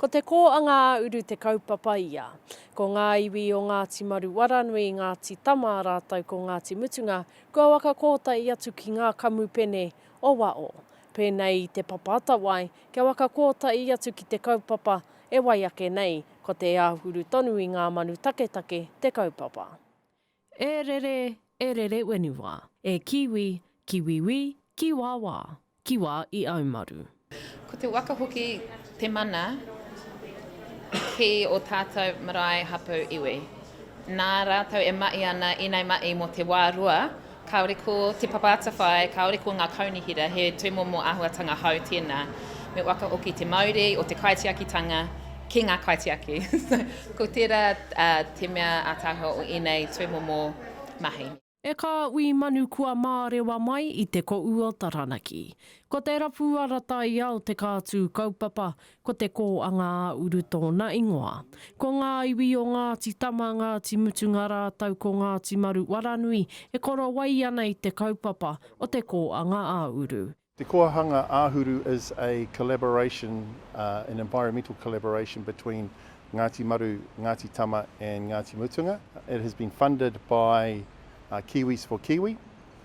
Ko Te Kōanga-ā-uru te kaupapa ia. Ko ngā iwi o Ngāti Maruwaranui, Ngāti Tama rātou ko Ngāti Mutunga kua waka kōtai atu ki ngā kamupene o waho. Pēnei i Te Papa-atawai, Kia waka kōtahi atu ki te kaupapa e wai ake nei, ko te āhuru tonu i ngā manu taketake te kaupapa. E rere, e rere whenua. E kiwi, ki wiwi, ki wāwā, ki wā i au maru. Ko te waka hoki te mana ki o tātou marae hapū iwi. Nā rātou e mahi ana inei mahi mō te wā rua Kāore ko Te Papa Atawhai, kāore ko ngā kaunihera, he tūmomo āhuatanga hou tēnā. Me whakahoki te mauri o te kaitiakitanga ki ngā kaitiaki. Ko tērā te mea ātaahua o ēnei tūmomo mahi. E kā Ui Manu Kua mārewa mai i te Ko Uo Taranaki. Ko te rapu ara taiao te kā tū kaupapa, Ko te kō a Ngā-a-uru tōna ingoa. Ko ngā iwi o Ngāti Tama, Ngāti Mutunga rātou ko Ngāti Maru Waranui e korowai ana i te kaupapa o te kō a Ngā-a-uru. Te kō a Ngā-a-uru is a collaboration, an environmental collaboration between Ngāti Maru, Ngāti Tama and Ngāti Mutunga. It has been funded by Kiwis for Kiwi.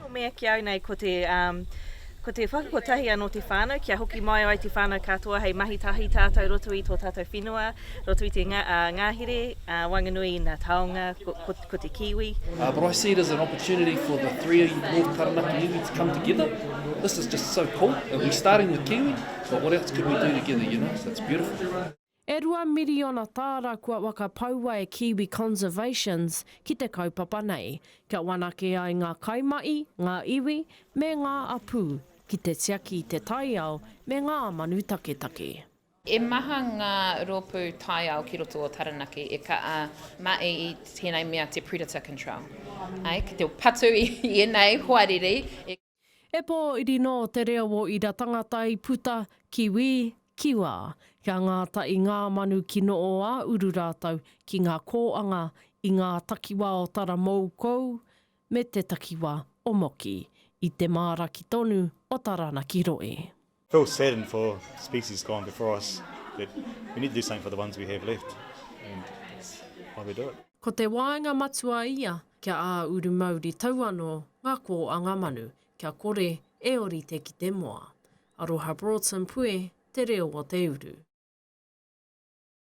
Ko mea ki au nei ko te, ko te whakakotahi anō te whānau kia hoki mai ai te whānau katoa hei mahi tahi tātou roto i tō tātou whenua, roto i te ngahere, waenganui i nā taonga, ko, ko te Kiwi. But I see it as an opportunity for the three North Taranaki iwi to come together, this is just so cool, and we're starting with Kiwi, but what else could we do together, you know, so it's beautiful. E rua miriona tāra kua whakapaua e Kiwi Conservations ki te kaupapa nei, kia whanake ai ngā kaimahi, ngā iwi, me ngā apū ki te tiaki i te taiao me ngā manu taketake. He maha ngā rōpū taiao ki roto o Taranaki e ka mahi i tēnei mea te predator control, ki te patu i ēnei hoariri. E pōiri nō te reo o ira tangata i puta, kiwi, kiwa, kia ngāta i ngā manu ki noo a uru rātou ki ngā kōanga i ngā takiwā o Taramoukou me te takiwā o Moki, i te māra ki tonu o Taranaki Roe. Feel saddened for species gone before us, but we need to do something for the ones we have left, and that's why we do it. Ko te waenga matua ia kia ā uru mauri tau anō ngā kō a ngā manu, kia kore e orite ki te moa. Aroha Broughton Puē te reo o te uru.